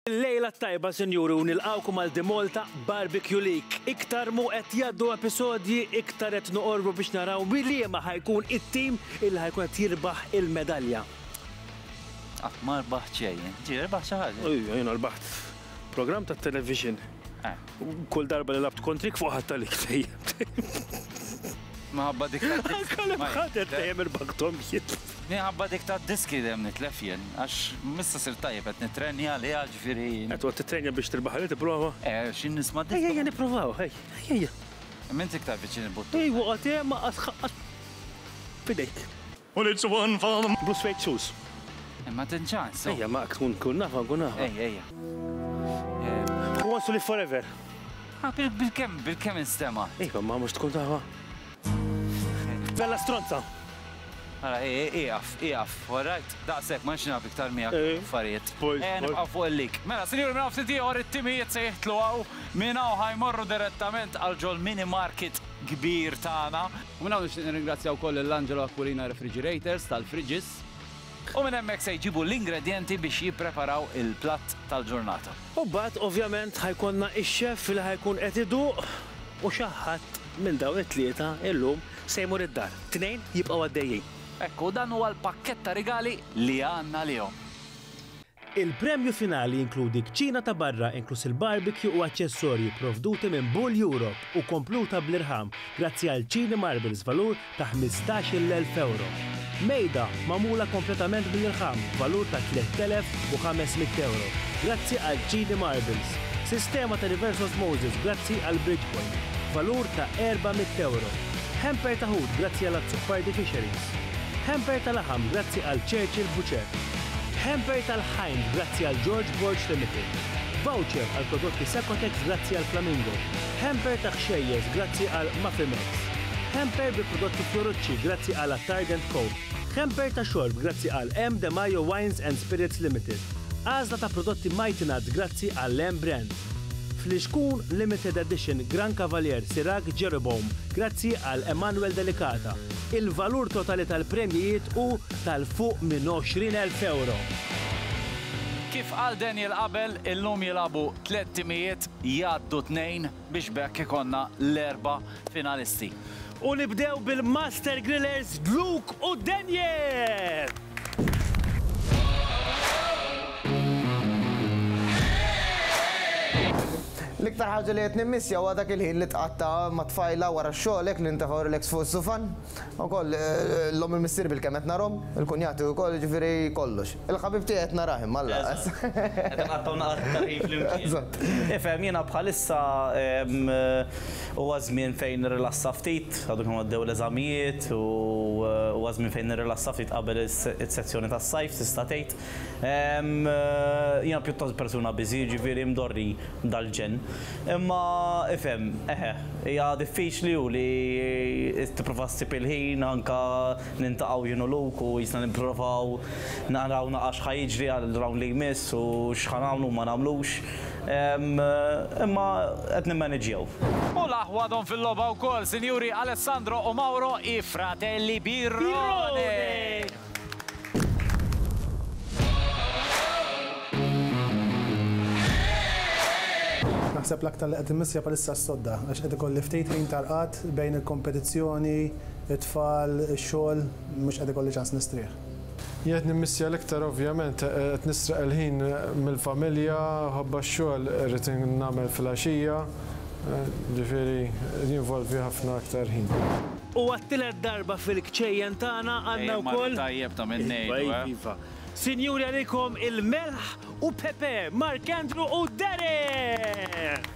Lejla tajba sinjuri u nilqawkom għal Dimolta Barbecue League. Iktar mu qed jaddu episodji, iktar qed noqorbu biex naraw liema ħajkun it-tim il ħajkun qed jirbaħ il-medalja. Ah, ma rbaħ ċejn, ġi rbaħ xi ħaġa. Ejja, jiena rbaħt program ta' television. Eh. Kull darba li labt kontrik fuq ħadd għalik tejjem. Minħabba dik ta' diski. Kalem ħadet tejjem il-baktom jit. Minħabba dik ta' diski dem nitlef jien, għax missa sir tajjeb qed nitrenja li ġifieri. Qed għod titrenja biex tirbaħ li tipprova? Eh, xi nisma' diski. Ejja nipprovaw, ej, ejja. Minn tiktar viċin il-buttun. Ej, waqgħet ma qas ħaqqat bidejk. Gus fejn txus. Imma tin ċans, so. Ejja, ma tkun tkun nafa, nkun nafa. Ejja, ejja. Who wants to live forever? Ah, bil-kem, bil-kem instema. Iva, ma mux tkun tafa. Bella stronza. Għara, iqaf, iqaf, alright? Daqsek, ma nxinaf iktar miegħek eh, affarijiet. Eh, nibqa' fuq il-lik. Mela, sinjur, minn għafti tiegħor it-timijiet se jihtlu għaw, minn għaw ħajmorru direttament għal ġol mini market kbir tagħna. U minn hawn nixtieq nirringrazzja wkoll lil Angelo Aquilina Refrigerators tal-fridges. U minn hemmhekk se jġibu l-ingredjenti biex jippreparaw il-platt tal-ġurnata. U mbagħad ovvjament ħa jkollna x-chef li ħa jkun qed iduq u xi ħadd minn dawn it-tlieta illum se jmur id-dar. Tnejn jibqgħu għaddejjin. Hekk, u dan huwa l-pakkett ta' rigali li għandna għalihom. Il-premju finali jinkludi kċina ta' barra inkluż il-barbecue u aċċessorji pprovduti minn Bull Europe u kompluta bl-irħam grazzi għal Chini Marbles valur ta' ħmistax-il elf ewro. Mejda magħmula kompletament bl-irħam b'valur ta' tliet elef u ħames mitt ewro grazzi għal Chini Marbles. Sistema ta' reverse osmosis grazzi għal Bridgepoint b'valur ta' erba' mitt ewro. Hamper ta' ħut grazzi għal Azzopardi Fisheries. Hamper ta' laħam grazzi għal Churchill Butcher. Hamper tal-Ħajn grazzi għal George Borg Limited. Voucher għal prodotti Secotex grazzi għal Flamingo. Hamper ta' ħxejjeż grazzi għal Mafimex. Hamper bi prodotti Fiorucci grazzi għal Attard and Co. Hamper ta' xorb grazzi għal M. De Majo Wines and Spirits Limited. Għażla ta' prodotti Mighty Nuts grazzi għal M. Brands. Flixkun Limited Edition Gran Cavalier Sirag Jeroboam grazzi għal Emanuel Delicata. Il-valur totali tal-premjijiet hu ta' 'l fuq minn 20 elf ewro. Kif qal Daniel qabel, illum jilagħbu tliet timijiet, jgħaddu tnejn biex b'hekk ikollna l-erba' finalisti. U nibdew bil-Master Grillers Luke u Daniel! L-iktar ħaġa li qed nimmissja huwa dak il-ħin li tqatta' mat-tfajla wara x-xogħol hekk nintefgħu relax fuq is-sufan. Ukoll, llum il-missier bilkemm qed narhom, il-kunjati ukoll, jiġifieri kollox. Il-ħabib tiegħi qed narah imma alla qas. Eżatt. Qed inqattgħu naqat iktar ħin flimkien. Eżatt. Ifhem, jiena bħalissa huwa żmien fejn nirrilassa ftit, għadu kemm għaddew l-eżamijiet u huwa żmien fejn nirrilassa ftit qabel is-sessjoni tas-sajf tista' tgħid. Ehm, jiena pjuttost persuna busy, jiġifieri mdorri dal-ġenn. Imma, ifhem, eħe, hija diffiċli u li tipprova ssib il-ħin anke niltaqgħu jien u Luke u qisna nipprovaw naraw naqra x'ħa jiġri għar-round li jmiss u x'ħa nagħmlu u ma nagħmlux. Ehm, imma qed nimmaniġġjaw. U l-aħwa għadhom fil-logħba wkoll, Sinjuri Alessandro u Mauro, i fratelli Birrone! Naħseb l-aktar li qed immissja bħalissa s-sodda għax qed ikolli ftit ħin ta' rqad bejn il-kompetizzjoni, it-tfal, ix-xogħol, mhux qed ikolli ċans nistrieħ. Li qed nimmissja l-iktar ovvjament qed nisraq il-ħin mill-familja, ħabba x-xogħol irrid nagħmel fil-għaxija, ġifieri jinvolvi ħafna aktar ħin. U għat-tielet darba fil-kċejjen tagħna għandna wkoll. Iva, iva, iva. Sinjuri għalikom il-melħ u pepe, Mark Andrew u Derek!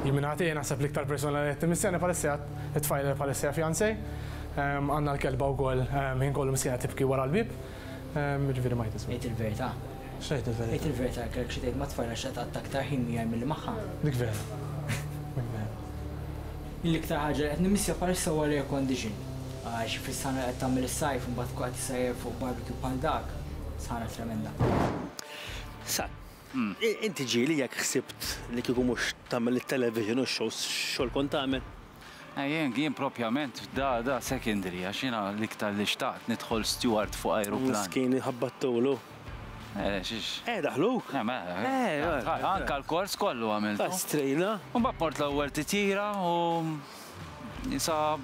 Jien minn ħati naħseb l-iktar persuna li qed timmissjani bħalissa hija t-tfajla li bħalissa hija fiancée. Għandna l-kelba wkoll ħin kollu miskina tibki wara l-bieb. Jiġifieri ma jgħid ismu. Għid il-verità. X'għid il-verità? Għid il-verità jekk kellek xi tgħid ma' tfajla x'se tqatta' aktar ħin miegħi milli magħha. Dik vera. Dik vera. Jien l-iktar ħaġa li qed nimmissja bħalissa huwa l-air condition. Għax fis-sahra li qed tagħmel is-sajf imbagħad tkun qed issajjar fuq barbecue bħal dak, sahra tremenda. Sa, inti ġieli jekk ħsibt li kieku mhux tagħmel it-television u x-shows x'xogħol kont tagħmel? Ejjeng, jien propjament da da secondary għax jiena l-iktar li xtaqt nidħol steward fuq ajruplan. Miskin inħabbattulu. Eh, xiex. Eh, daħluk? Eh, ma. Eh, eh. Anka l-kors kollu għamilt. Astrina. U mbagħad mort l-ewwel titjira u sa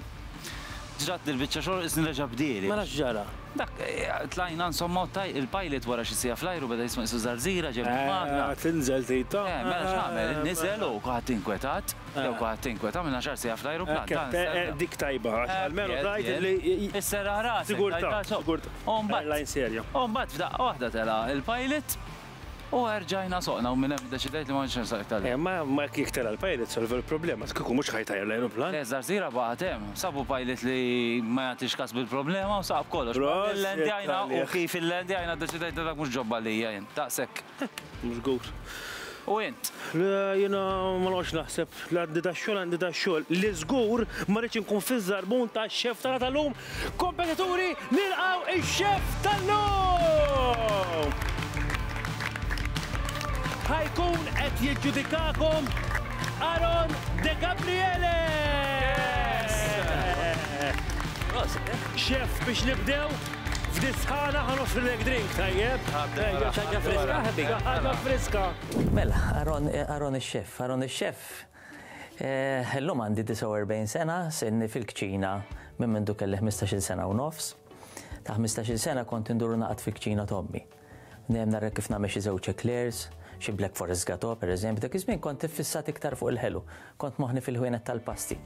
ġrat dil-biċċa xogħol isni reġa' bdieli. Mela x'ġara? Dak eh, tlajna insomma il-pilot wara xi sija fl-ajru beda jisma' isu żarżira ġem eh, magna. Tinżel tita. Eh, mela x'għamel? Niżel u kuħadd inkwetat. Jew kulħadd tinkweet, għamilna xahar siegħa fl-ajruplan. Tant serna. Dik tajba, għax almenu tgħid illi. Isserraħ rasek. Sigurtà, sigurtà. U mbagħad. Airline serja. U mbagħad f'daqqa waħda tela' il-pilot u erġajna soqna u minn hemm iddeċidejt li ma għadx insaq iktar. Eh, ma ma jekk tela' l-pilot solva l-problema, kieku mhux ħa jtajjar l-ajruplan. Le, żarżira baqgħet hemm. Sabu pilot li ma jagħtix kas bil-problema u saq b'kollox. Prosit! Illendjajna u kif illendjajna ddeċidejt li dak mhux ġob għalija jien. Daqshekk. Żgur. U int? Le, jiena ma noqgħodx naħseb. Li għandi dax-xogħol, għandi dax-xogħol. Li żgur ma rridx inkun fiż-żarbun tax-chef tagħna tal-lum. Kompetaturi, nilqgħu ix-chef tal-lum! Ħa jkun qed jiġġudikakom Aaron Degabriele! Prosit! Chef, biex nibdew? F'disħana ħa noffrilek drink tajjeb. Ejja, xi ħaġa friska ħabib. Xi ħaġa friska. Mela, Aaron, Aaron ix-Xeff, Aaron ix-Xeff, illum għandi 49 sena, sirni fil-kċina minn mindu kelli ħmistax-il sena u nofs. Ta' ħmistax-il sena kont indur u naqgħod fil-kċina t'ommi. Dejjem narek kif nagħmel xi żewġ eclairs, xi black forest gateau pereżempju, dak iż-żmien kont iffissat iktar fuq il-ħelu, kont moħħni fil-ħwienet tal-pasti.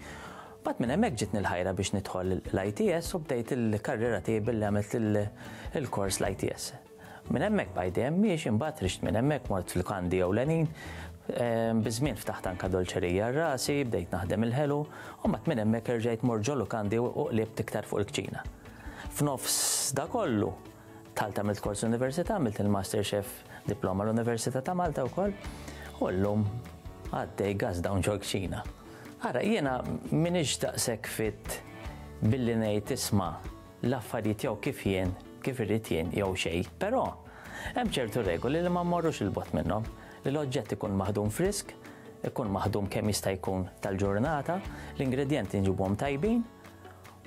Mbagħad minn hemmhekk ġietni l-ħajra biex nidħol l-ITS u bdejt il-karriera tiegħi billi għamilt il-kors l-ITS. Minn hemmhekk bqajt dejjem miexi, mbagħad rixt minn hemmhekk mort f'lukandi ewlenin, biż-żmien ftaħt anke dolċerija għal rasi, bdejt naħdem il-ħelu, u mbagħad minn hemmhekk erġajt mort ġo lukandi u qlibt iktar fuq il-kċina. F'nofs da kollu, Dħalt għamilt kors l-università, għamilt il-Master Chef diploma l-Università ta' Malta wkoll, u llum għaddej gas dawn ġol kċina. Ara, jiena minix daqshekk fit billi ngħid isma' l-affarijiet jew kif jien, kif irrid jien jew xejn, però hemm ċertu regoli li ma mmorrux il-bot minnhom li l-oġġett ikun maħdum frisk, ikun maħdum kemm jista' jkun tal-ġurnata, l-ingredjenti nġibhom tajbin,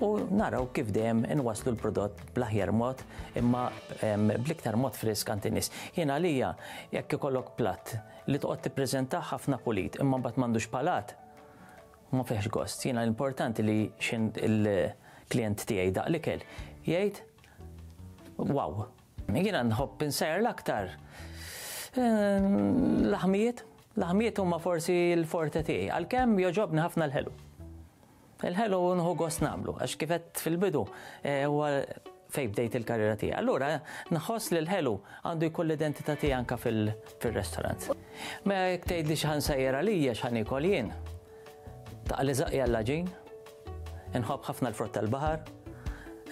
u naraw kif dejjem inwasslu l-prodott bl-aħjar mod imma bl-iktar mod frisk għand in-nies. Jien għalija jekk ikollok platt li toqgħod tippreżentah ħafna pulit imma mbagħad m'għandux palat, ma fihx gost. Jiena l-importanti li xi il-klijent tiegħi daq l-ikel jgħid wow. Jiena nħobb insajjar l-aktar l-aħmijiet, l-aħmijiet huma forsi l-forte tiegħi għalkemm jogħġobni ħafna l-ħelu. Il-ħelu nħu gost nagħmlu, għax kif għedt fil-bidu, huwa fejn bdejt il-karriera tiegħi. Allura nħoss li l-ħelu għandu jkun l-identità tiegħi anke fir-restaurant. Mela jekk tgħidli x'ħa nsejjer għalija, x'ħa niekol jien, taqgħa li żaqqi għall-għaġin. Inħobb ħafna l-frott tal-baħar,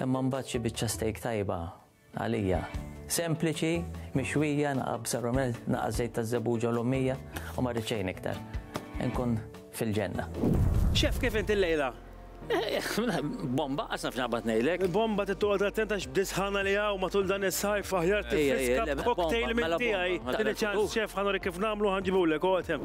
imma mbagħad xi biċċa steak tajba Għalija, sempliċi, mixwija, naqa' bsa rumel, naqa' żejt ta' żebbuġa u l-ommija, u ma rrid xejn iktar. Inkun fil-ġenna. Chef, kif int il-lejla? Bomba, qas naf x'naqbad ngħidlek. Bomba trid toqgħod attent għax b'dis ħana li hawn matul dan is-sajf aħjar Ejja, ejja, tifriska le, b'cocktail mela minn bomba, tiegħi. mela Tini bomba. ċans, chef, ħa nurik kif nagħmlu, ħa nġibulek, oqgħod hemm.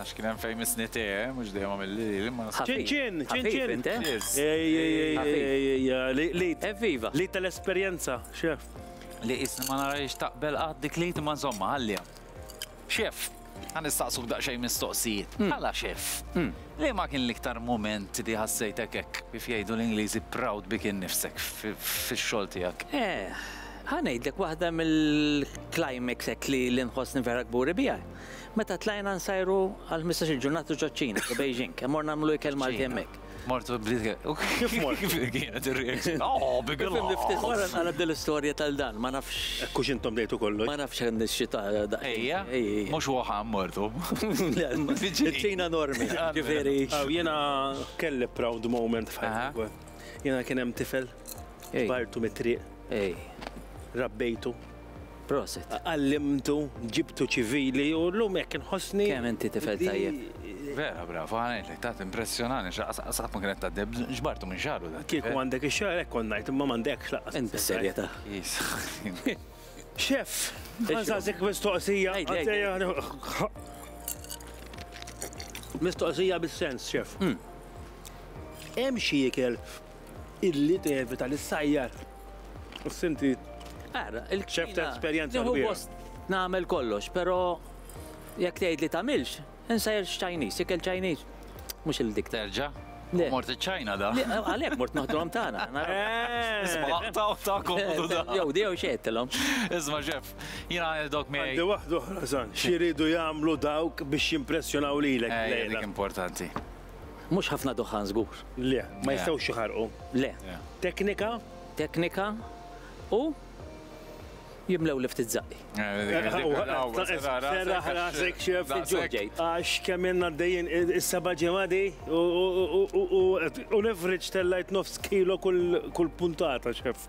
Għax kien hemm fejn misni te, eh, mhux dejjem għamil li li ma nasibx. Ċinċin, ċinċin. Ħafif, eh? Cheers. Ej, ej, ej, Ħafif. ej, ej, ej, ej, li- li- Evviva. Li tal-esperjenza, xef. Li isni ma narajx taqbel qatt dik li ma żomma għalliha. Xef, għan nistaqsuk daqsxejn mistoqsijiet. Għala xef, li ma kien l-iktar moment li ħassejtek hekk kif jgħidu l-Ingliżi proud bi kien nifsek fi- fix-xogħol tiegħek. Eh, ħanejdlek waħda mill-climax hekk li li nħossni vera kburi biha. Meta tlajna nsajru għal ħmistax-il ġurnata ġoċ-Ċina, ġo Beijing, hemm morna nagħmlu ikel Malti hemmhekk. Mort u bdiet Kif mort? Kif kienet ir-reaction? Oh, big love! Fimni ftit wara nqaleb din l-istorja tal dan, ma nafx. Hekk hux intom bdejtu kollox. Ma nafx hekk nixxi ta' daqsxejn. Ejja, mhux Wuhan mortu. Le, iċ-Ċina enormi, ġifieri. Aw, jiena kelli proud moment f'ħajti wkoll. Jiena kien hemm tifel, bartu mit-triq. Rabbejtu. Prosit. Għallimtu, ġibtu ċivili u l-lum jekk inħossni. Kemm inti tifel tajjeb. Vera, bravo, għanajt li tat impressjonani, xaqsaqsaq ma kienet taddeb, ġbartu minn xaru. Kieku għandek ix-xar, ekk konnajt, imma m'għandekx laqas. Int bis-serjetà. Xef, għanżazik mistoqsija. Mistoqsija bis-sens, xef. Hemm xi ikel Illi tevita li ssajjar u ssinti ċef ta' esperjenza. Nieħu gost nagħmel kollox, però jekk tgħidli tagħmilx, insajjar x'Chinese, ikel Chinese. Mhux il-dik. Terġa'? Le. Mort iċ-Ċina da. Għalhekk mort noħdulhom tagħna. Isma' taw ta' komodu da. Jew di jew xejn tilhom. Isma' ċef, jiena ngħidlok miegħi. Għandi waħda oħra, San. X'iridu jagħmlu dawk biex jimpressjonaw lilek? Dik importanti. Mhux ħafna duħħan żgur. Le, ma jistgħux iħarqu. Le. Teknika? teknika u jimlew li ftit zaqqi. Għax kemm jenna d-dejjen is-seba ġemadi u l-average tellajt nofs kilo kull puntata xef.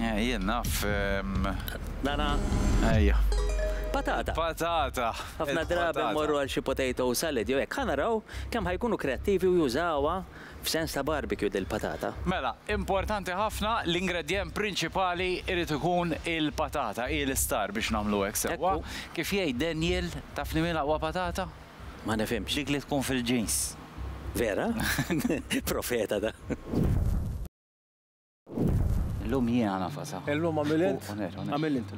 Eh, jien naf. Nara. Ejja. Patata. Patata. Ħafna drabi morru għal xi potato salad jew hekk ħanaraw kemm ħajkunu kreattivi u jużawha f'sens ta' barbecue dil-patata. Mela, importanti ħafna l-ingredjent prinċipali irid ikun il-patata, hi l-istar biex nagħmlu hekk sewwa. Kif jgħid Daniel, taf li min aqwa patata? Ma nifhimx. Dik li tkun fil-ġins. Vera? Profeta da. Illum jiena nafasa. Illum għamil int. Għamil int.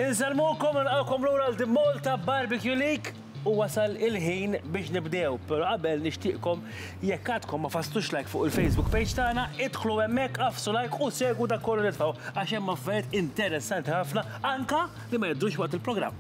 Insalmukom nilqawkom lura għal din Malta Barbecue League u wasal il-ħin biex nibdew, pero qabel nixtieqkom jekk għadkom ma fastux like fuq il-Facebook page tagħna, idħlu hemmhekk għafsu like u segwu dak kollu nitfgħu għax hemm affarijiet interessanti ħafna anka li ma jibdux waqt il-programm.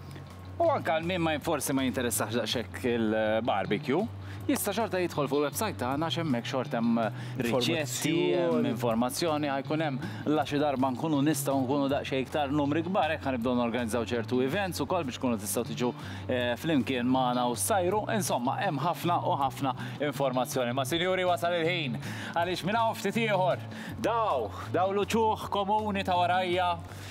U anke għal min ma forsi ma jinteressax daqshekk il-barbecue, jista' xorta jidħol fuq il-website tagħna għax hemmhekk xorta hemm riċetti, hemm informazzjoni, ħajkun hemm la xi darba nkunu nistgħu nkunu daqsxejn iktar numri kbar hekk ħanibdew norganizzaw ċertu events ukoll biex tkunu tistgħu tiġu flimkien magħna u ssajru. Insomma, hemm ħafna u ħafna informazzjoni. Imma sinjuri wasal il-ħin għaliex minn hawn ftit ieħor daw, daw l-uċuħ komuni ta' warajja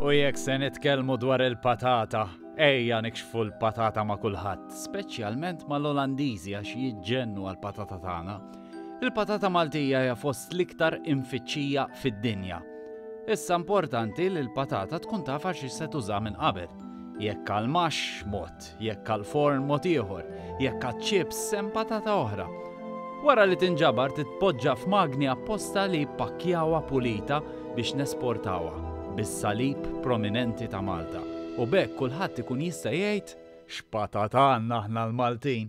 U jekk se nitkellmu dwar il-patata, ejja nikxfu l-patata ma' kulħadd, speċjalment mal-Olandiżi għax jiġġennu għall-patata tagħna. Il-patata Maltija hija fost l-iktar imfittxija fid-dinja. Issa importanti li l-patata tkun taf għal xiex se tuża minn qabel. Jekk għal max mod, jekk għal forn mod ieħor, jekk għad chips hemm patata oħra. Wara li tinġabar titpoġġa f'magni apposta li jippakkjawha pulita biex nesportawha bis-salib prominenti ta' Malta u b'hekk kulħadd ikun jista' jgħid x'patata għandna aħna l-Maltin.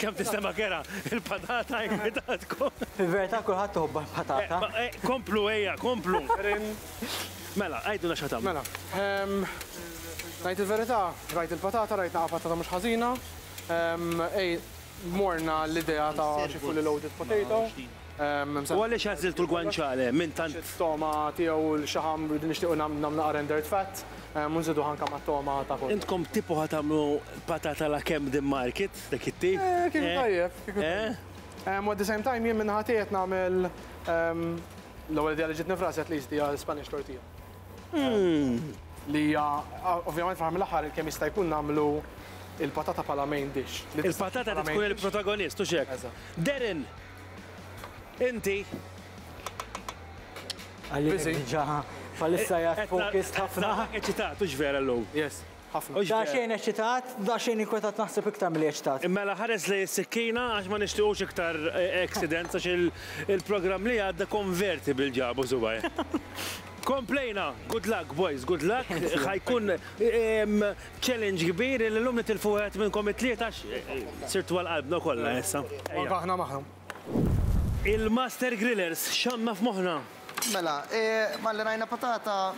Kemm tistema' kera il-patata jkwitatkom. Fil-verità kulħadd iħobbha l-patata. Komplu ejja, komplu. Mela, għidulna x'ħa tagħmlu. Mela, ngħid il-verità, rajt il-patata, rajt naqa' patata mhux ħażina, morna għall-idea ta' xi fully loaded potato. U għaliex għażiltu l-guanciale minn tant? Togħma tiegħu u l-xaħam li nixtiequ nagħmlu naqra rendered fat u nżiduh anke mat-togħma ta' kull. Intkom tipo ħa tagħmlu patata alla Camden Market, dak it-tip? Eh, kieku tajjeb, kieku tajjeb. Ehm, u at the same time jien min-naħa tiegħi qed nagħmel, ehm, l-ewwel idea li ġietni f'rasi at least hija Spanish tortilla. Hmm. Li hija, ovvjament fl mill-aħħar kemm jista' jkun nagħmlu il-patata bħala main dish. Il-patata ta' tkun il-protagonist, u xek. Darren, inti. Għalli ġaħa, falissa jgħat fokis ħafna. Eċitat, u vera l-lum. Yes. ħafna. Daqsxejn eċċitat, daqsxejn inkwetat naħseb iktar milli eċċitat. Mela ħares lejn is-sikkina għax ma nixtiequx iktar accidents għax il-programm li għadda convertible ġabu subgħajh. Komplejna! Good luck boys, good luck. Ħa jkun challenge kbir li llum nitilfu wieħed minnkom it-tlieta għax sirtu għal qalbna kollha issa. U anke aħna magħhom. Il-Master Grillers x'għandna f'moħħna? Mela, malli rajna patata.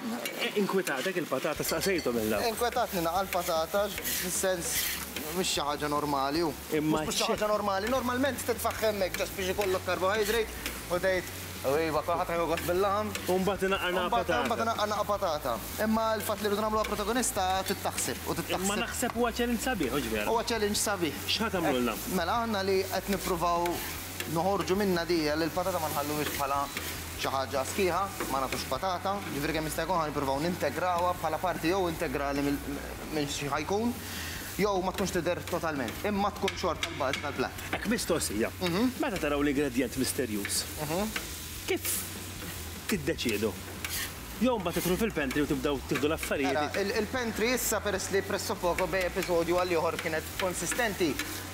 Inkwetatek il-patata, staqsejthom il-lab. Inkwetatni naqra l-patata, fis-sens mhix xi ħaġa normali u. Imma. Mhux xi ħaġa normali, normalment titfaħħ hemmhekk just biex ikollok carbohydrate u tgħid, iva, kulħadd ħajħu gost bil-laħam. U mbagħad inaqqar naqra patata. Mbagħad inaqqar naqra patata. Imma l-fatt li rridu nagħmluha protagonista trid taħseb u trid taħseb. Imma naħseb huwa challenge sabiħ, mhux vera? Huwa challenge sabiħ. X'ħa tagħmlulna? Mela, aħna li qed nippruvaw. Noħorġu minnha di għalli l-patata ma nħalluhiex bħala xi ħaġa sħiħa, ma nagħtux patata, jiġifieri kemm jista' jkun ħa nippruvaw nintegrawha bħala parti jew integrali minn xi ħa jkun, jew ma tkunx tidher totalment, imma tkun xorta l-bażi tal-platt. Hekk mistoqsija, meta taraw l-ingredjent misterjuż, kif tiddeċiedu? Jew imbagħad tidħlu fil-pantry u tibdew tieħdu l-affarijiet. Mela, il-pantry issa peress li pressopoco bej episodju għal ieħor kienet konsistenti,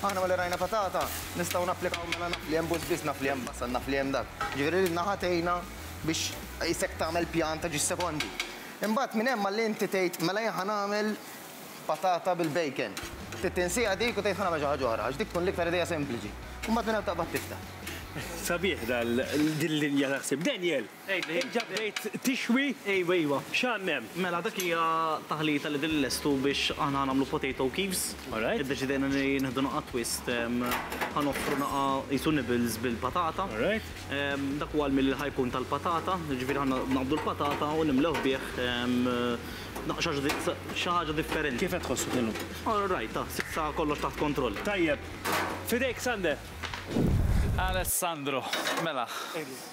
aħna malli rajna patata, nistgħu napplikaw mela naf li hemm bus biss, naf li hemm basal, naf li hemm dak. Jiġifieri din naħa tgħinna biex isek tagħmel pjan ta' ġis sekondi. Imbagħad minn hemm malli inti tgħid mela jien ħa nagħmel patata bil-bacon. Trid tinsiha dik u tgħid ħa nagħmel xi ħaġa oħra għax dik tkun l-iktar idea sempliċi. Imbagħad minn hemm taqbad tiftaħ. Sabiħ din l-linja ta' ħsieb. Daniel! Diġà bdejt tixwi? Ejwa, ejwa. X'għandna hemm? Mela dak hija taħlita li din nlestu biex aħna ħa nagħmlu potato cubes. Alright. Iddeċidejna li nieħdu naqgħa twist, ħa noffru naqgħa qisu nibbles bil-patata. Alright. Dak huwa l-meal li ħa jkun tal-patata, jiġifieri ħa naqbdu l-patata u nimlewh bih xi ħaġa differenti. Kif qed tħossok illum? All right, ta, s'issa kollox taħt kontroll. Tajjeb. F'idejk Sander. Alessandro, mela.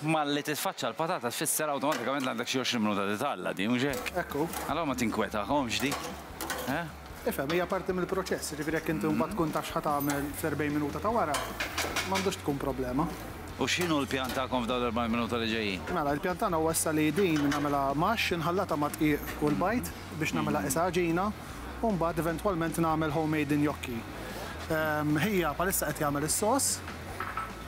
Malli titfaċċa l-patata tfisser awtomatikament li għandek xi għoxrin minuta li tgħalla, di mhux hekk? Hekk hu. Allura ma tinkwetahomx di, eh? Ifhem, hija parti mill-proċess, jiġifieri jekk inti mbagħad tkun taf x'ħa tagħmel fl-40 minuta ta' wara, m'għandux tkun problema. U x'inhu l-pjan tagħkom f'dawn l-40 minuta li ġejjin? Mela, il-pjan tagħna huwa issa li din nagħmilha maxx, inħallatha mad-dqiq u l-bajd biex nagħmilha qisha għaġina, u mbagħad eventwalment nagħmel homemade injokki. Ħija bħalissa qed jagħmel is-sos.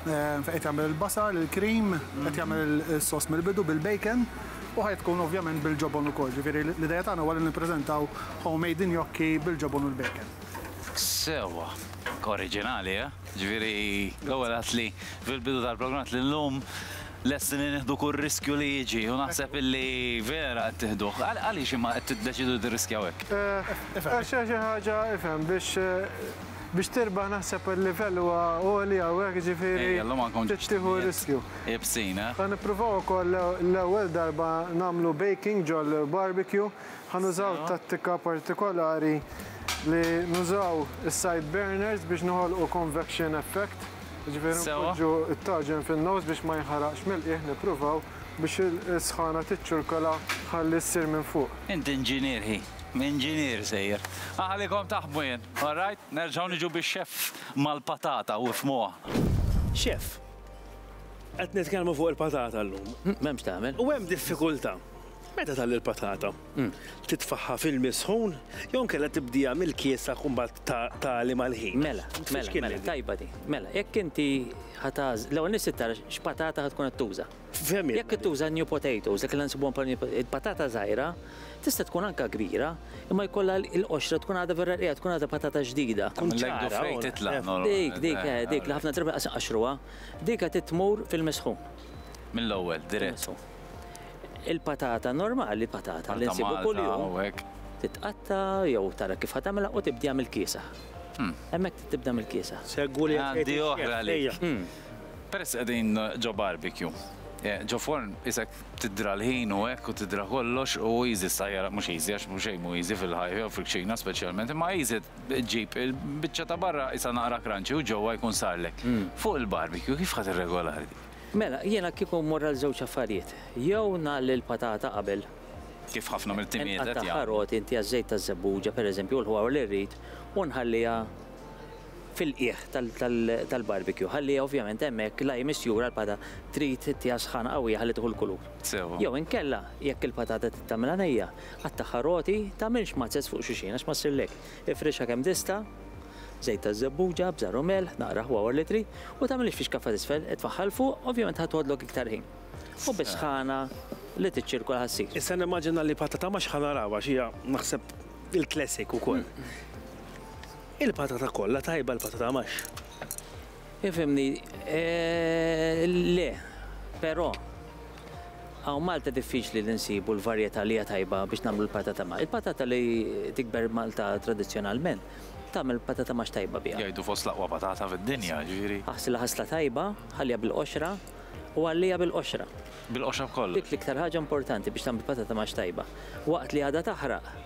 Qed jagħmel il-basar, il-cream, qed jagħmel is-sos mill-bidu bil-bacon u ħa tkun ovvjament bil-ġobon ukoll. Ġifieri l-idea tagħna huwa li nippreżentaw homemade gnocchi bil-ġobon u l-bacon. Sewwa oriġinali, eh? Ġifieri l-ewwel għedt li fil-bidu tal-programm għedt li llum lesti li nieħdu kull riskju li jiġi u naħseb illi vera qed tieħduh. Għaliex imma qed tiddeċiedu tirriskjaw hekk? Għax hija xi ħaġa, ifhem, biex Biex tirbaħ naħseb il-livell huwa għoli hawnhekk jiġifieri trid tieħu r-riskju. Ħa nippruvaw ukoll l-ewwel darba nagħmlu baking ġol-barbecue. Ħa nużaw tattika partikolari li nużaw is-side burners biex noħolqu convection effect. Jiġifieri npoġġu t-taġen fin-nofs biex ma jinħaraqx mill-qiegħ nippruvaw biex is-sħana tiċċirkola ħalli ssir minn fuq. Int inġinier ħi. Inġinier sejjer. Aħlikom taħbu jien, all right? Nerġgħu niġu bix-xeff mal-patata u ifhmuha. Xeff, qed nitkellmu fuq il-patata llum. M'hemm x'tagħmel. U hemm diffikultà. Meta tgħalli l-patata? Titfagħha f'ilmi sħun jew inkella tibdieha mill-kiesak u mbagħad tagħli mal-ħin? Mela, mela, mela, tajba din. Mela, jekk inti ħa tagħżel, l-ewwel nett trid tara x'patata ħa tkun qed tuża. Jekk ittuża new potatoes, dak li nsibuhom bħala new potatoes, il-patata żgħira tista' tkun anke kbira, imma jkollha l-qoxra tkun għadha vera rqiqa, tkun għadha patata ġdida. Dik, dik, eh, dik li ħafna drabi lanqas iqaxxruha. Dik għad tmur fil-misħun. Mill-ewwel, dirett. Il-patata normali, il-patata li nsibu kuljum, titqatta' jew tara kif ħa tagħmilha u tibdiha mill-kiesaħ. Hemmhekk tibda mill-kiesaħ. Segwu li għandi oħra għalik. Peress qegħdin ġo barbecue. Ġo forn isek tidra l-ħin u hekk u tidra kollox u easy stajjar mhux easy għax mhux xejn mhu easy fil-ħajja jew fil-kċina speċjalment imma easy ġġib il-biċċa ta' barra qisha naqra crunchy u ġewwa jkun sarlek. Fuq il-barbecue kif ħa tirregolari dik? Mela, jiena kieku mmur għal żewġ affarijiet. Jew ngħalli l-patata qabel. Kif ħafna mill-timijiet qed jagħmlu. Inqattagħha roti, intiha ż-żejt taż-żebbuġa pereżempju u l-ħwawar li rrid u nħalliha. fil-qiegħ tal-barbecue ħalli ovvjament hemmhekk la hi misjura l-pata trid ittiha sħana qawwija ħalli tieħu l-kulur. Sew. Jew inkella jekk il-patata trid tagħmilha nejja, qattagħha roti, tagħmilx mazzez fuq xulxin għax ma ssirx lek. Ifrixha kemm tista', żejt taż-żebbuġa, bżar u melħ, naqra aħwa wara li tri, u tagħmilhiex fixkaffa t'isfel, itfagħha 'l fuq, ovvjament ħa tħodlok iktar ħin. U bis-sħana li tiċċirkola ħa ssir. Issa nimmaġina li patata max ħa naraw għax hija naħseb il-classic ukoll. Il-patata kollha tajba l-patata max. Ifhimni eh, le, però hawn Malta diffiċli li nsibu l-varjetà li hija tajba biex nagħmlu l-patata max. Il-patata li tikber Malta tradizzjonalment tagħmel patata max tajba biha. Jgħidu fost l-aqwa patata fid-dinja, ġifieri. Aħsilha ħasla tajba, ħalliha bil-qoxra u għalliha bil-qoxra. Bil-qoxra b'kollox. Dik l-iktar ħaġa importanti biex tagħmel patata max tajba. Waqt li għadha taħraq,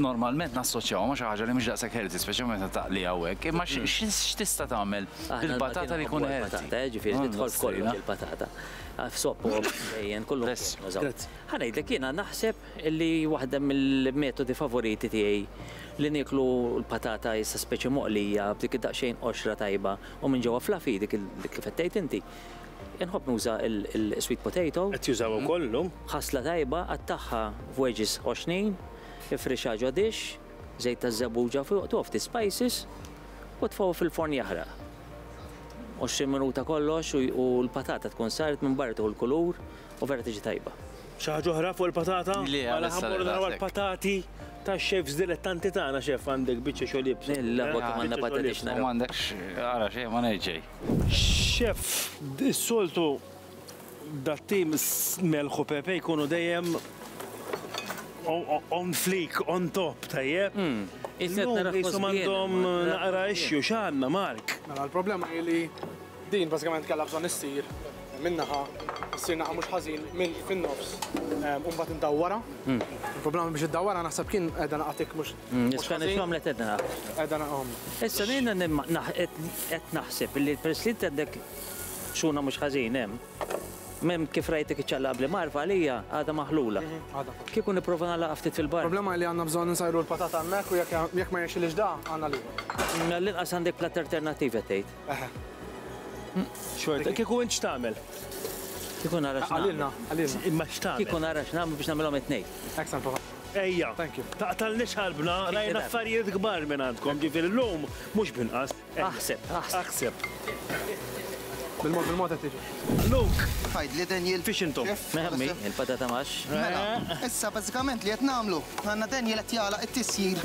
normalment nassoċjaw ma' xi ħaġa li mhux daqshekk healthy, speċjalment meta taqli hawnhekk, imma mm. x'tista' tagħmel bil-patata li jkun healthy? Patata, eh, ġifieri mm, tidħol f'kollu il-patata. Ah, f'soppu dejjem kollu. Ħanejdlek jiena naħseb li waħda mill-metodi favoriti tiegħi li nieklu l-patata issa speċi moqlija b'dik id-daqsxejn qoxra tajba u minn ġewwa flafi dik kif qed inti. Inħobb nuża l-sweet potato. Qed jużawha wkoll illum. Ħasla tajba, qattagħha f'wedges għoxnin, ifrixha ġo dish, żejt taż-żebbuġa fuq, togħob ftit spices u tfgħu fil-forn jaħraq. Għoxrin minuta kollox u l-patata tkun saret minn barra tieħu l-kulur u vera tiġi tajba. Xi ħaġa oħra fuq il-patata? Le, għalissa le. Mela ħa mmorru naraw il-patati tax-chefs dilettanti tagħna, chef għandek biċċa xogħol ibsa. Mela, ħa biċċa xogħol ibsa. M'għandekx, ara xejn, ma ngħid xejn. Chef, is-soltu dat-tim Melħ u Pepe jkunu dejjem on fleek, on top, tajjeb? Illum qishom għandhom naqra issue, x'għandna Mark? Mela l-problema hi li din bażikament kellha bżonn issir minn naħa, issir naħa mhux ħażin minn fin-nofs u mbagħad indawwarha. Il-problema biex iddawwarha naħseb kien qiegħda naqa' tikk mhux Nitkellem għamlet edna. Edna għom. Issa nejna qed naħseb li l-President għandek xuna mhux ħażin hemm. Mem kif rajtek iċċalla qabli marfa għalija għadha maħlula. Mhm, Kieku nipprova nagħlaq ftit fil-bar. Problema li għandna bżonn nsajru l-patata hemmhekk u jekk ma jexilix da għandna li. Mela l-inqas għandek plat alternattiva tgħid. Eħe. Xorta, kieku int x'tagħmel? Kieku nara x'nagħmel. Qalilna, qalilna. Imma x'tagħmel? Kieku nara x'nagħmel biex nagħmilhom it-tnejn. Excellent, Papa. Ejja. Thank you. Taqtalniex qalbna, rajna affarijiet kbar minn għandkom, ġifieri llum mhux b'inqas. Aħseb, aħseb. Aħseb. Bil-mod, bil-mod qed tiġi. Luke! Tgħidli Daniel. Fiex intom? Ħammi, il-patata max. Mela, issa bażikament li qed nagħmlu, għandna Daniel qed jagħlaq it-tisjir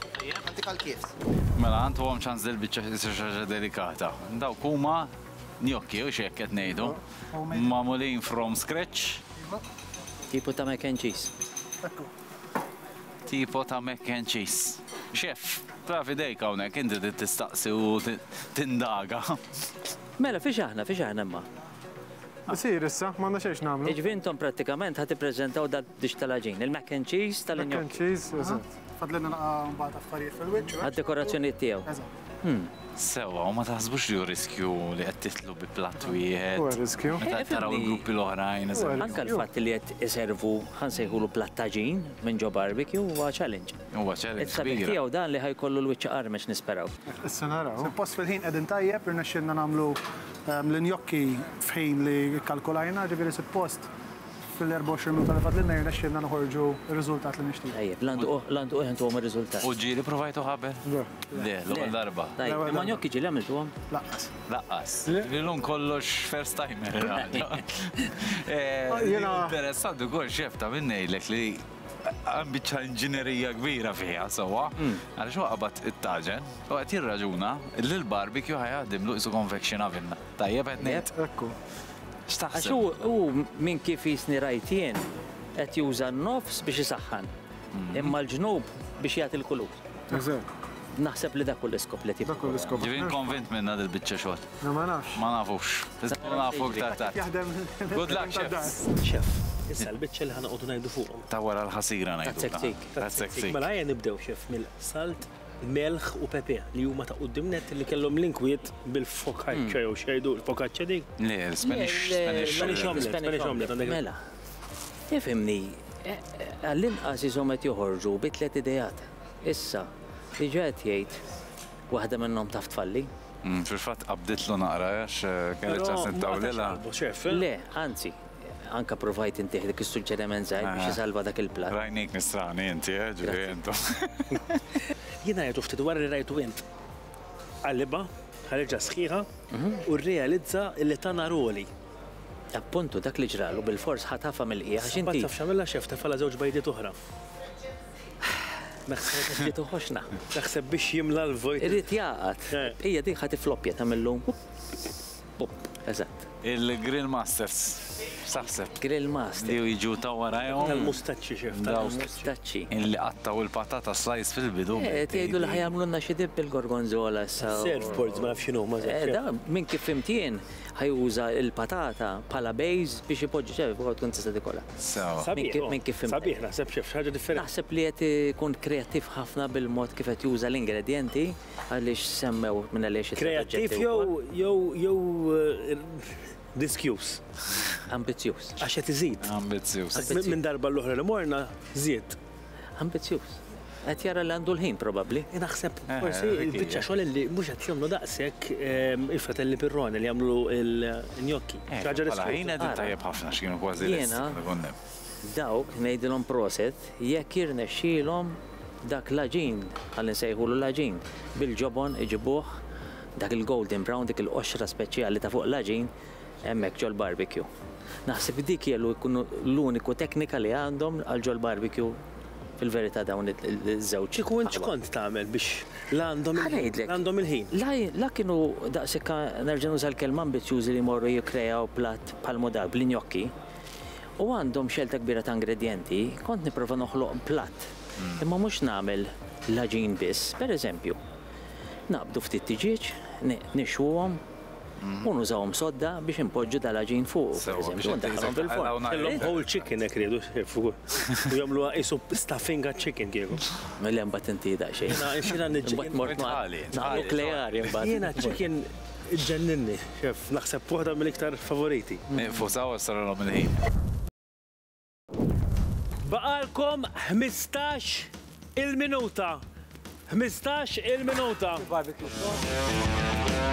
Tajjeb, għandik għal kifs. Mela, għantuhom ċans dil biċċa xi ħaġa delikata. Dawk huma gnocchi, hux hekk qed ngħidu? Magħmulin from scratch. Tipo ta' mac and cheese. Ekku. Tipo ta' mac and cheese. Chef, taf idejk hawnhekk, inti trid tistaqsi u tindaga. Mela, fiex aħna, fiex aħna imma? Isir issa, m'għandna xejn x'nagħmlu. Jiġifieri intom prattikament ħa tippreżentaw dal-dish tal-għaġin, il-mac and cheese tal-gnocchi. Mac and cheese, eżatt. Fadlilna naqa' mbagħad affarijiet fil-wiċċ. Eh? Għad-dekorazzjonijiet tiegħu. Eżatt. Hmm. Sewa, u ma taħsbux li hu riskju li qed titlu bi platt wieħed. Huwa riskju. Meta eh, taraw il-gruppi l-oħrajn. Anke l-fatt li qed iservu ħan sejħulu plattaġin minn ġo barbecue huwa challenge. Huwa challenge. Is-sabiħ tiegħu dan li ħajkollu l-wiċċ qarmex nisperaw. Issa naraw. Post fil-ħin qegħdin tajjeb irnexxilna nagħmlu ehm, l-injokki f'ħin li kalkulajna, ġifieri suppost Fil-24 minuta li fadlilna jirnexxielna noħorġu r-riżultat li nixtiequ. Tajjeb, Lantuqu, Lantuqu jħantuhom ir-riżultat. U ġieli provajtu qabel? Le. Le, l-ewwel darba. Tajjeb, imma gnocchi ġieli għamiltuhom? Lanqas. Lanqas. Lilhom kollox first timer għada. Jiena interessanti wkoll chef ta' min ngħidlek li hemm biċċa inġinerija kbira fiha sewwa, għaliex huwa qabad it-taġen u qed jirraġuna li l-barbecue ħa jaħdimlu qisu convection oven. Tajjeb qed ngħid? Ekku. X'taħseb? Għax hu minn kif qisni rajt jien qed juża n-nofs biex isaħħan, mhm. imma l-ġnub biex jagħti l-kulur. Eżatt. Naħseb li dak l-iskop li tibqa. Dak l-iskop. Ġivin konvint minna dil bicċa xogħol. No ma nafx. Ma nafux. Isma nafu iktar tard. Jaħdem. Good luck, chef. Chef. Issa l-bicċa li ħanqodu ngħidu fuqhom. Ta' wara l-ħasira ngħidu. Tazzek tik. Tazzek tik. Mela ħajja nibdew chef mill-salt melħ u pepe li huma ta' qudiem net li kellhom l-inkwiet bil-focaccia jew xejdu l-focaccia dik. Le, Spanish Spanish Spanish omelet, Spanish omelet għandek. Mela, ifhimni, għall-inqas ishom qed joħorġu bi tliet ideat. Issa, diġà qed jgħid waħda minnhom taf tfalli. Fil-fatt qabditlu naqra għax kelli ċans nittawlilha. Le, anzi, Anka provajt intih dik is-suġġeriment żgħir biex isalva dak il-platt. Rajnik nisrani inti, eh, ġifieri intom. Jien għajjtu ftit wara li rajtu int qalibha, ħareġha sħiħa u rrealizza li ta nhar għoli. Appuntu dak li ġralu bilfors ħa tafha mill-qiegħ għax inti. Taf x'għamilha xef tefgħalha żewġ bajdiet oħra. Naħseb biex li toħoxna. Naħseb biex jimla l-vojt. Irid jaqgħad. Hija dik ħa tifloppja tagħmillu. Pupp, eżatt. Il-Grill Masters, x'taħseb? Grill Masters. Bdew jiġu ta' warajhom. Ftakar il-mustaċċi, x'ef, ftakar il-mustaċċi. Illi qattgħu l-patata slice fil-bidu. Eh, qed jgħidu li ħajamlulna xi dipp bil-gorgonzola issa. Serve boards, ma nafx x'inhuma. Eh, da, minn kif fimt jien, ħajuża l-patata bħala base biex ipoġġi, x'ef, bħal tkun tista' tikolha. Sewa. Sabiħ, minn kif fimt. Sabiħ, naħseb x'ef, xi ħaġa differenti. Naħseb li qed ikun kreattiv ħafna bil-mod kif qed juża l-ingredjenti. Għaliex semmew minn għaliex it-tliet oġġetti huma. Kreattiv jew jew jew riskjuż? Ambizzjuż. Għax qed iżid. Ambizzjuż. Minn darba l-oħra li morna żied. Ambizzjuż. Qed jara li għandu l-ħin probabbli. Naħseb forsi l-biċċa xogħol li mhux qed jagħmlu daqshekk il-fratelli Pirrone li jagħmlu l-gnocchi. Xi ħaġa riskjuża. Ħin qegħdin tajjeb ħafna x'kienu kważi lesti. Jiena. Dawk ngħidilhom proset jekk jirnexxielhom dak l-għaġin, ħalli nsejħulu l-għaġin, bil-ġobon iġibuh, dak il-golden brown, dik il-qoxra speċjali ta' fuq l-għaġin, hemmhekk ġol-barbecue. Naħseb dik hija l-uniku teknika li għandhom għal ġol-barbecue fil-verità dawn iż-żewġ aħwa. Kieku int x'kont tagħmel biex la għandhom il-ħin. Ħa ngħidlek. La għandhom il-ħin. La kienu daqshekk, nerġa' nuża l-kelma, ambizzjużi li jmorru jikkrejaw platt bħal Mudar bl-injokki. u għandhom xelta kbira ta' ingredjenti, kont nipprova noħloq platt. Imma mhux nagħmel l-għaġin biss, pereżempju, naqbdu ftit tiġieġ, nixwuhom, u nużawhom sodda biex inpoġġu dal-għaġin fuqu, pereżempju, u ndaħħalhom fil-forn. Kellhom whole chicken hekk riedu fuq. U jagħmluha qisu stuffing għaċ-chicken kieku. Le mbagħad inti daqsxejn. Jiena jiena niġġiegħel. Imbagħad mort ma' nukleari mbagħad. Jiena ċ-chicken. Iġġenninni, xeff, naħseb f'waħda mill-iktar favoriti. Ieqfu sew għax saralhom il-ħin. Baqgħalkom ħmistax il-minuta. Ħmistax il-minuta. Barbecue sauce.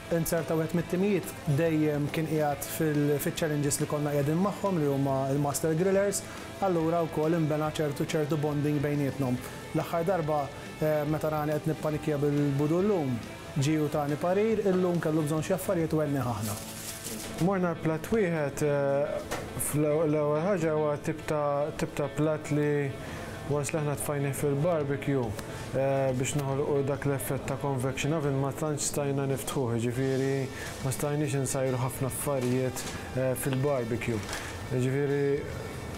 Inzerta wieħed mit-timijiet dejjem kien qiegħed fil-challenges li konna qiegħdin magħhom li huma l-Master Grillers, allura wkoll inbena ċertu ċertu bonding bejnietnhom. L-aħħar darba meta rani qed nippanikkja bil-budu llum, ġie u tani parir, illum kellu bżonn xi affarijiet u għennieh aħna. Morna l-platt wieħed, l-ewwel ħaġa huwa tip ta' tip ta' platt li. Once li aħna tfajnieh fil-barbecue biex noħolqu dak l-effett ta' convection oven ma tantx stajna niftħuh, jiġifieri ma stajniex insajru ħafna affarijiet fil-barbecue. Jiġifieri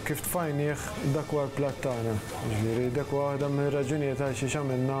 kif tfajnieh dak huwa l-platt tagħna. Jiġifieri dak huwa waħda mir-raġunijiet għalxiex għamilna.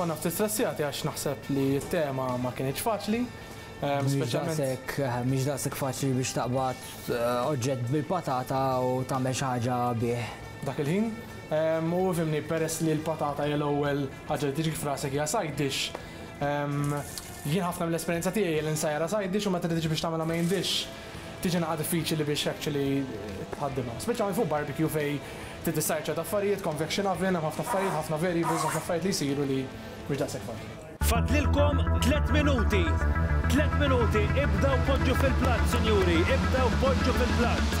Konna ftit stressjati għax naħseb li t-tema ma kienx faċli. Ehm, speċjalment eh, mhix daqshekk faċli biex taqbad eh, oġġett bil-patata u tagħmel xi ħaġa bih. Dak il-ħin, ehm, u fimni peress li l-patata hija l-ewwel ħaġa li tiġi frasek hija side dish, Jien ħafna mill-esperjenza tiegħi hi li nsajjarha side dish u meta tiġi biex tagħmilha main dish tiġi naqra diffiċili biex actually tħaddimha. Speċjalment fuq barbecue fejn trid issajjar ċerta affarijiet, convection oven, hemm ħafna affarijiet, ħafna variables, ħafna affarijiet li jsiru li mhux daqshekk faċli. Fadlilkom tliet minuti! Tliet minuti, ibdew poġġu fil-platt, sinjuri, ibdew poġġu fil-platt!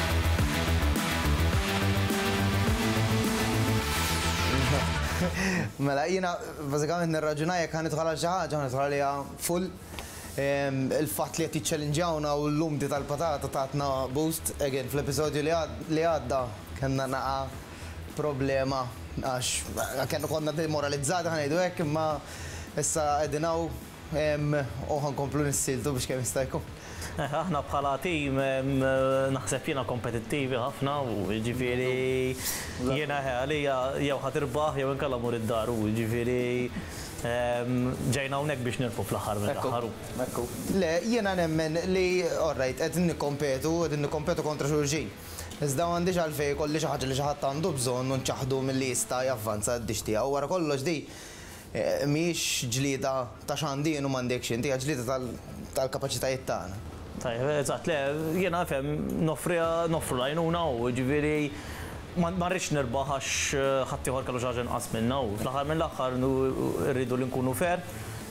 Mela, jiena bażikament nirraġuna jekk ħa nidħol għal xi ħaġa ħa nidħol għaliha full. Il-fatt li qed jiċċellinġjawna u l-lumdi tal-patata tatna boost. Again, fl-episodju li għadda kellna naqa' problema għax konna demoralizzati ħa ngħidu hekk imma issa qegħdin hawn. U ħa nkomplu nissieltu biex kemm jista' jkun. Aħna bħala tim naħseb jiena kompetittivi ħafna u jiġifieri jiena għalija jew ħa tirbaħ jew inkella mur id-dar u jiġifieri ġejna hawnhekk biex nirbħu fl-aħħar mill-aħħar u. Hekk hu. Le, jiena nemmen li alright qegħdin nikkompetu, qegħdin nikkompetu kontra xulxin. Iżda m'għandix għalfejn ikolli xi ħaġa li xi ħadd għandu bżonn u nċaħħdu milli jista' javvanza d-dixx tiegħu. Wara kollox din Mhijiex ġlieda ta' x'għandi jien u m'għandekx int, hija ġlieda tal-kapaċitajiet tagħna. Tajjeb, eżatt, le, jiena nifhem, noffriha, noffru l-għajnuna u jiġifieri ma rridx nirbaħ għax ħaddieħor kellu xi ħaġa inqas minnha u fl-aħħar mill-aħħar irridu li nkunu fair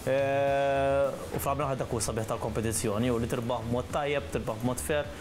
u fl-aħħar mill-aħħar dak hu s-sabiħ tal-kompetizzjoni hu li tirbaħ b'mod tajjeb, tirbaħ b'mod fair.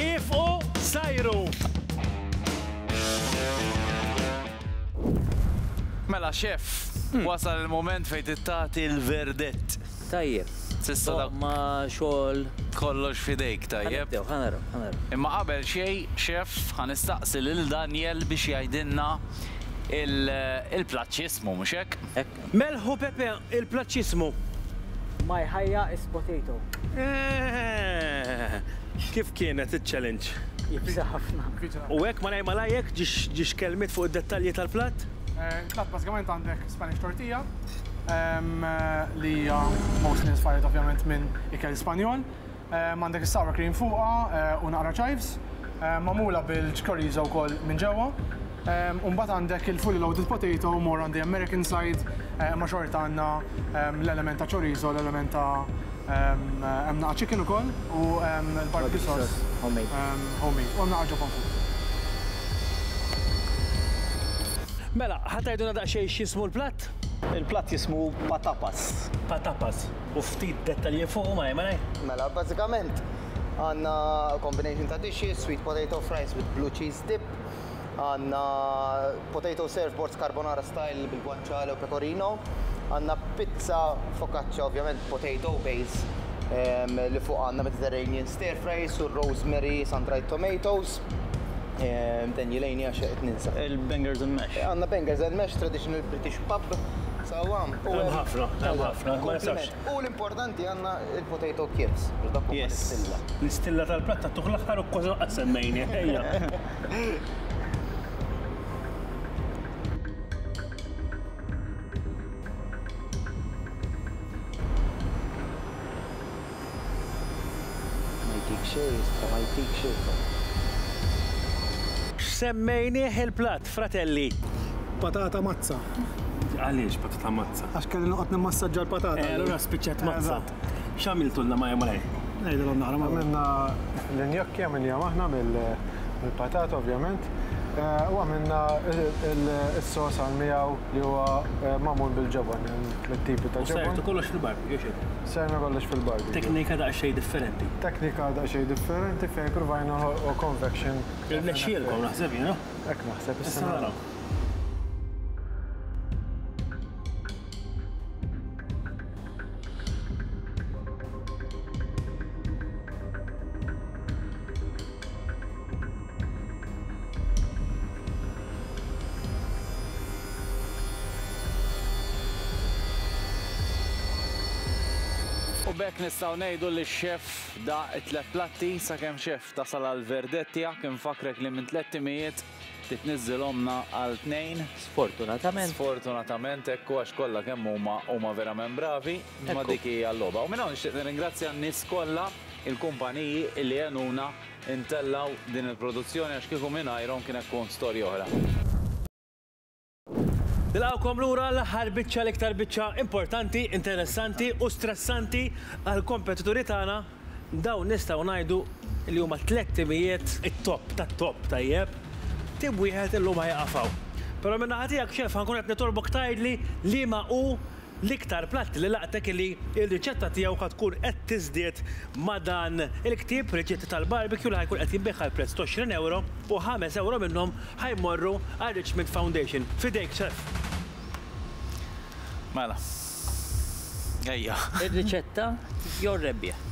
Iefqu sajru! Mela xef, hmm. wasal il-moment fejn tittati l-verdett. Tajjeb. Sissa da. Ma xogħol. Kollox fidejk tajjeb. Imma qabel xej, xef, ħanistaqsi lil Daniel biex jgħidilna il-plaċismu, mhux hekk? Melħ u pepe il-plaċċiżmu. Ma jħajja is potato. Eehh! Kif kienet iċ-challenge? Ibsa ħafna. U hekk malajr malajr hekk ġie xkelmiet fuq id-dettalji tal-platt? Il-platt bażikament għandek Spanish tortilla, li hija mostly inspired ovvjament minn ikel Spanjol. Għandek is-sour cream fuqha u naqra chives, magħmula bil-chorizo wkoll minn ġewwa. U mbagħad għandek il-fully loaded potato more on the American side, imma xorta għandna l-element ta' chorizo, l-element ta' hemm naqgħa chicken ukoll u l-barbecue sauce homemade. U hemm naqra ġobon fuq. Mela, ħa tgħidulna daqsxejn x'jismu l-platt? Il-platt jismu patapas. Patapas. u ftit dettalji fuqu malaj malaj. Mela, bażikament għandna combination ta' dishes, sweet potato fries with blue cheese dip, għandna potato serve boards carbonara style bil-guanciale u pecorino, għandna pizza focaccia ovvjament potato base li fuqha għandna Mediterranean stir fries u rosemary sun-dried tomatoes. Ten jilejni għax qed ninsa. Il-Bangers and Mash. Għandna Bangers and Mash, traditional British pub. Sawa. Hemm ħafna, hemm ħafna. U l-importanti għandna il-potato chips. Yes. L-istilla tal-platta tuħ l-aħħar u kważi laqgħet semmejni. Ejja. X'semmejnieh il-platt, fratelli? Patata mazza. Għaliex patata mazza? Għax kelli noqgħod nimmassaġġa l-patata. Eh, allura spiċċat mazza. Eżatt. X'għamiltulna malajr malajr? Ngħidilhom naqra malajr. Għamilna l-injokki, għamilnihom aħna mill-patata ovvjament, u għamilna s-sos għal miegħu li huwa magħmul bil-ġobon, hemm tliet tipi ta' ġobon. U sert kollox fil-barbecue, x'inhu? Sejna kollox fil-barbecue. Teknika daqsxejn differenti. Teknika daqsxejn differenti fejn provajna noħolqu convection. Irnexxielkom naħseb jien, ha? Hekk naħseb, issa naraw. U b'hekk nistgħu ngħidu li x-xef daq it-tliet platti, sakemm xef tasal għall-verdett tiegħek, infakkrek li minn tlett timijiet, Ftit niżżil ommna għal tnejn. Sfortunatament. Sfortunatament hekk hu għax kollha kemm huma huma verament bravi, imma dik hija l-logħba. U minn hawn nixtieq nirringrazzja n-nies kollha, il-kumpaniji li għenuna ntellgħu din il-produzzjoni għax kieku mingħajrhom kienet tkun storja oħra. Nilqgħukom lura l-aħħar biċċa l-iktar biċċa importanti, interessanti u stressanti għall-kompetituri tagħna, dawn nistgħu ngħidu li huma t-tliet timijiet it-top tat-top, tajjeb? Tim wieħed illum ħa jieqaf hawn. Però min-naħa tiegħek, Chef, ħa nkun qed nitolbok tgħidli liema hu L-iktar platti li laqtek li r-riċetta tiegħu ħa tkun qed tiżdied ma' dan il-ktieb, Riċetti tal-Barbecue, li ħa jkun qed jinbiegħ għal prezz t'għoxrin ewro u ħames ewro minnhom ħa jmorru għar-Richmond Foundation. F'idejk, Chef! Mela. Ejja. Ir-riċetta jew ir-rebbieħ?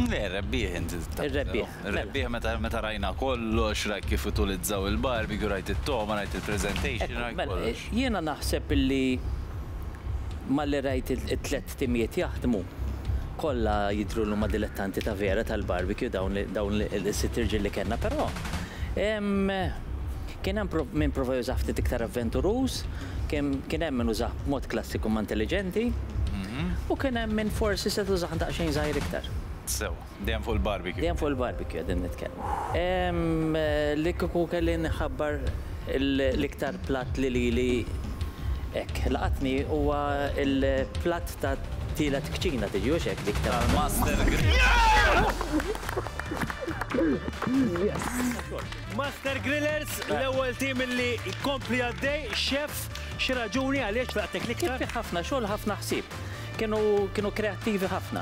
Le, ir-rebbieħ int. Ir-rebbieħ. Rebbieħ meta meta rajna kollox, rajt kif utulizzaw il-barbecue, rajt it-togħma, rajt il-presentation, rajt kollox. Mela, jiena naħseb illi malli rajt it-tliet timijiet jaħdmu, kollha jidhru li huma dilettanti ta' vera tal-barbecue dawn dawn is-sitt irġiel li kellna però hemm kien hemm min prova jużah ftit iktar avventuruż, kien hemm min użah b'mod klassiku imma intelliġenti, u kien hemm min forsi setgħet użah daqsxejn żgħir iktar. Sew. Dejjem fuq il-barbecue. Dejjem fuq il-barbecue qegħdin nitkellmu. Li kieku kelli nħabbar l-iktar platt li lili hekk laqatni huwa l-platt ta' tielet kċina tiġi hux hekk dik tal-Master Grillers. Master Grillers, l-ewwel tim li jkompli għaddej, xef, xi raġuni għaliex faqtek l-iktar? Kien fi ħafna xogħol, ħafna ħsieb. Kienu kreattivi ħafna.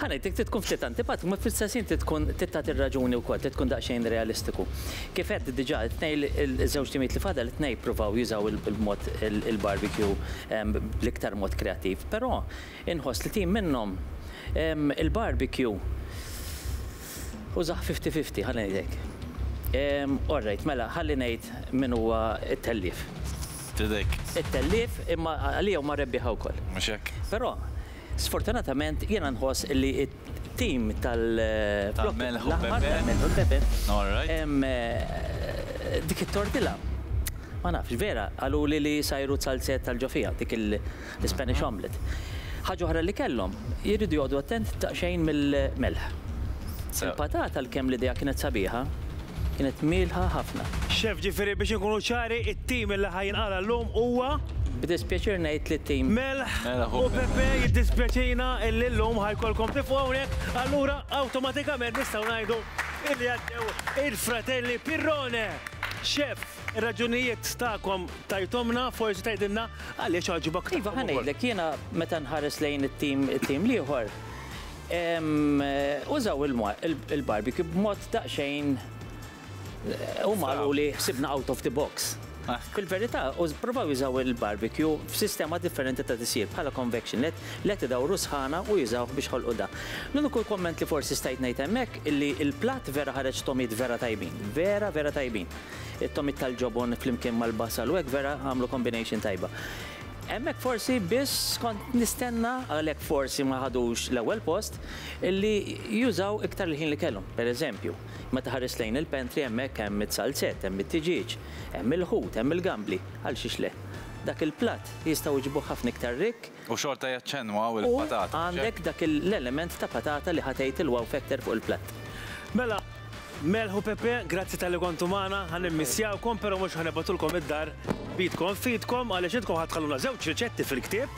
Ħa ngħidlek, trid tkun ftit antipatiku, imma fl-istess ħin trid tkun trid tagħti r-raġuni wkoll, trid tkun daqsxejn realistiku. Kif għedt diġà, it-tnejn iż-żewġ timijiet li fadal, it-tnejn jippruvaw jużaw il-mod il-barbecue bl-iktar mod kreattiv, però inħoss li tim minnhom il-barbecue użah fifty fifty, ħalli ngħidlek. Orrejt, mela ħalli ngħid min huwa t-tellief. Trid hekk. It-tellief, imma għalija huma rebbieħa wkoll. Mhux hekk. Però, Sfortunatament jiena nħoss li t-tim tal-Melħ u l-Pepe dik it-tortilla ma nafx, vera qaluli li jsajru zalzet tal-ġofija, dik l-Ispanish omelette. Ħaġa oħra li kellhom, iridu joqogħdu attent daqsxejn mill-melħ. Il-patata għalkemm l-idea kienet sabiħa, Kienet mielħa ħafna. Chef, ġifieri biex inkunu ċari, it-tim li ħa jinqala' llum huwa. B'dispjaċir ngħid li t-tim. Melħ u Pepe, jiddispjaċina illi llum ħa jkollkom tifqu hawnhekk, allura awtomatikament nistgħu ngħidu illi għaddew il-fratelli Pirrone. Chef, ir-raġunijiet tagħkom tajthomna, forsi tgħidilna għaliex għaġbok tagħhom ukoll. Iva, ħa ngħidlek, jiena meta nħares lejn it-tim, it-tim l-ieħor, Użaw il-barbecue b'mod daqsxejn huma qaluli ħsibna out of the box. Fil-verità, provaw jużaw il-barbecue f'sistema differenti ta' tisjir bħala convection let, let idawru sħana u jużawh biex ħolqu da. L-uniku kumment li forsi stajt ngħid hemmhekk li l-platt vera ħareġ togħmiet vera tajbin, vera vera tajbin. It-togħmiet tal-ġobon flimkien mal-basal u hekk vera għamlu combination tajba. Hemmhekk forsi biss kont nistenna, għalhekk forsi ma ħadux l-ewwel post, li jużaw iktar il-ħin li kellhom. Per eżempju, meta ħarist lejn il-pantry hemmhekk hemm it-salzett, hemm it-tiġieġ, hemm il-ħut, hemm il-gambli, għal xiex le? Dak il-platt jistgħu jġibuh ħafna iktar rikk. U xorta jaċċennwaw il-patata, mhux hekk? U għandek dak l-element ta' patata li ħa tgħid il-wow factor fuq il-platt. Mela, Melħ u Pepe, grazzi talli kontu magħna, ħa nimmissjawkom però mhux ħa nibgħatulkom id-dar b'idkom f'idkom għaliex intkom ħa tħalluna żewġ riċetti fil-ktieb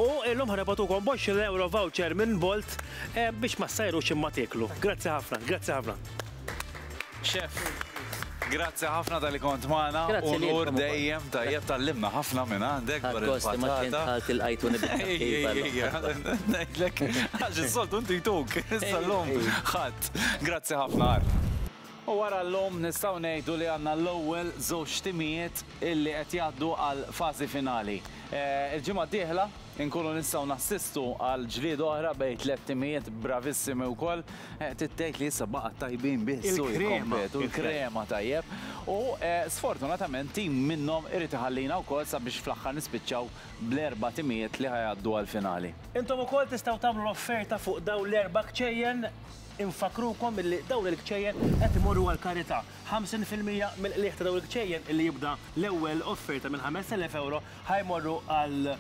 u illum ħa nibgħatukom b'għoxrin ewro voucher minn Bolt biex ma ssajrux imma tieklu. Grazzi ħafna, grazzi ħafna. Chef, grazzi ħafna tal-li kont maħna. Grazzi ħafna. Unur dejjem tajjeb tal-limna ħafna minn għandek. Għakost, ma ċint ħalt il-għajtu nibqa. Għax il-soltu ntituk, sal-lum ħat. Eżatt. Grazzi ħafna, Art. U wara llum nistgħu ngħidu li għandna l-ewwel żewġ timijiet illi qed jgħaddu għal fażi finali. Il-ġimgħa d-dieħla nkunu nistgħu nassistu għal ġlieda oħra bejn tliet timijiet bravissimi wkoll. Trid tgħid li issa baqgħet tajbin biss u jikkompetu. Il-krema tajjeb. U sfortunatament tim minnhom irid iħallina wkoll sabiex fl-aħħar nispiċċaw bl-erba' timijiet li ħa jgħaddu għall-finali. Intom ukoll tistgħu tagħmlu l-offerta fuq dawn l-erba' kċejjen. Infakkrukom illi dawn il-kċejjen qed imorru għall-karità. Ħamsin fil-mija mill-qligħ ta' dawn il-kċejjen illi jibda l-ewwel offerta minn ħamest elef ewro ħa jmorru għal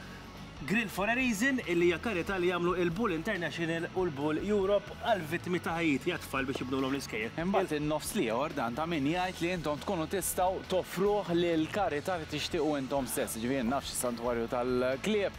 Grill for a Reason illi hija karità li jagħmlu il-Bull International u l-Bull Europe għall-vittmi ta' ħajjit jat-tfal biex jibnulhom l-iskejjel. Imbagħad in-nofs l-ieħor dan ta' min jgħid li intom tkunu tistgħu toffruh lill-karità li tixtiequ intom stess, jiġifieri nafx is-Santwarju tal-Klieb,